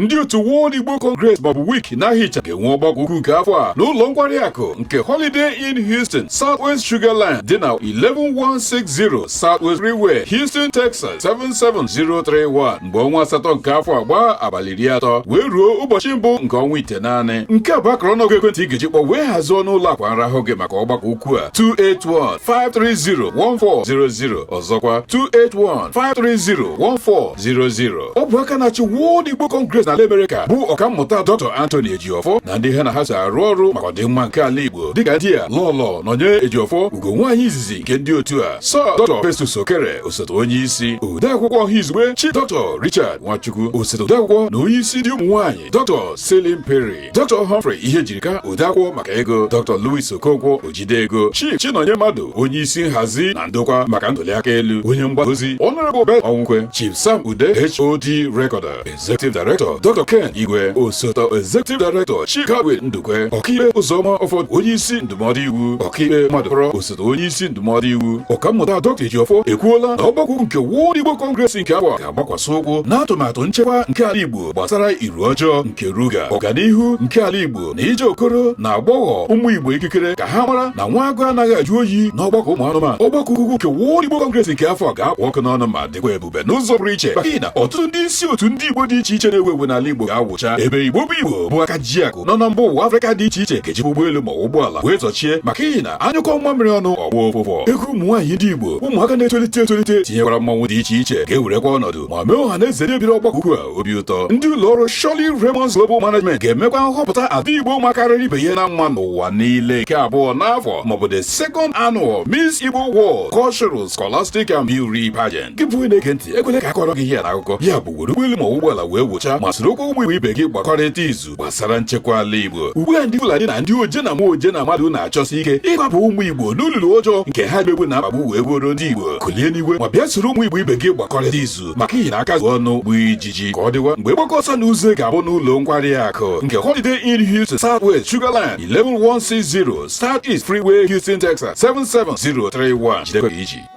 ndị otu World Igbo Congress maọbụ WIC n'aha ịcha ga-enwe ọgbakọ ukwu nke afọ a n'ụlọ nkwari akụ nke Holiday Inn Houston Southwest Sugarland dị na 11160 Southwest Freeway Houston Texas 77031 mgbe ọnwa asatọ nke afọ a gbaa abalị iri atọ wee ruo ụbọchị mbụ nke ọnwa itenaanị nke a bụ akara ọnụọgụ ekwentị ị ga-eji kpọọ wee hazie ọnụ ụlọ akwa nrahụ gị maka ọgbakọ ukwu a 281 530 1400 ọzọkwa 281-530-1400 ọ bụ aka na-achị World Igbo Congress n'ala Amerịka bụ ọkammụta Dr. Anthony Ejiofor na ndị ya na ha so arụ ọrụ maka ọdịmma nke ala Igbo dịka ndị a Lọlọ Nọnye Ejiofor ugo nwaanyị izizi nke ndị otu a Sir Dr. Festus Okere osote onye isi odeakwụkwọ ọha izugbe Chief Dr. Richard Nwachukwu osote odeakwụkwọ na onye isi ndị ụmụ nwaanyị Dr. Celine Perry Dr. Humphrey Ihejirika odeakwụkwọ maka ego Dr. Louis Okonkwo ojide ego Chief Chinonye Mmadụ onye isi nhazi na ndokwa maka ntụliaka elu onye mgbasa ozi Honorable Basil Ọnwụkwe Chief Sam Ude HOD Recorder Executive Director Dr. Ken Igwe osote Executive Director Chief Godwin Ndukwe ọkaikpe Ụzọma Ọfọdụ onye isi ndụmọdụ iwu ọkaikpe Mmadụkọrọ osote onye isi ndụmọdụ iwu ọkammụta Dr. Ejiofor ekwuola na ọgbakọ ukwu nke World Igbo Congress nke afọ a ga-agbakwasị ụkwụ n'atụmatụ nchekwa nke ala Igbo gbasara iru ọjọọ nke ruga ọganihu nke ala Igbo na inye okoro na agbọghọ ụmụ Igbo ikikere ka ha mara na nwa agụ anaghị ajụ oyi n'ọgbakọ ụmụ anụmanụ ọgbakọ ukwu nke World Igbo Congress nke afọ a ga-akpụ ọkụ n'ọnụ ma dịkwa ebube n'ụzọ pụrụ iche maka ihi na ọtụtụ ndị isi otu ndị Igbo dị iche iche na-ewu ewu n'ala Igbo ga-awụcha ebe Igbo bụ Igbo bụ aka ji akụ nọ na mba ụwa Afrịka dị iche iche ga-eji ụgbọelu maọbụ ụgbọala wee zọchie maka ihi na a nyụkọọ mamịrị ọnụ ọ gbọọ ụfụfụ egwu ụmụ nwaanyị ndị Igbo ụmụaka na-etolite etolite tinyekwara mmanwụ dị iche iche ga-ewerekwa ọnọdụ ma mee ọha na eze ndị bịara ọgbakọ ukwu a obi ụtọ ndị ụlọ ọrụ Shirley Raymond's Global Management ga-emekwa nhọpụta ada Igbo makarịrị ibe ya na mma n'ụwa niile nke abụọ n'afọ maọbụ the second annual Miss Igbo World Cultural Scholastic and Beauty Pageant gị bụ onye na-ege ntị ekwele ka a kọọrọ gị ihe a n'akụkọ ya bụ were ụgbọelu maọbụ ụgbọala wee wụcha ma sorokwa ụmụ Igbo ibe gị gbakọrịta izu gbasara nchekwa ala Igbo ugbu a ndị Fulani na ndị oje na mmụọ oje na mmadụ na-achọsi ike ịkwaba ụmụ Igbo n'olulu ọjọọ nke ha mmegbu na mkpagbu wee gbuoro ndị Igbo kulie n'igwe ma bịa soro ụmụ Igbo ibe gị gbakọrịta izu maka ihi na aka zuo ọnụ gbuo ijiji ka ọ dịwa mgbe ọgbakọ ọsọ na uzo ga-abụ n'ụlọ nkwari akụ nke Holiday Inn Houston Southwest Sugarland 11160 Southeast Freeway Houston Texas 77031 jidekwa iji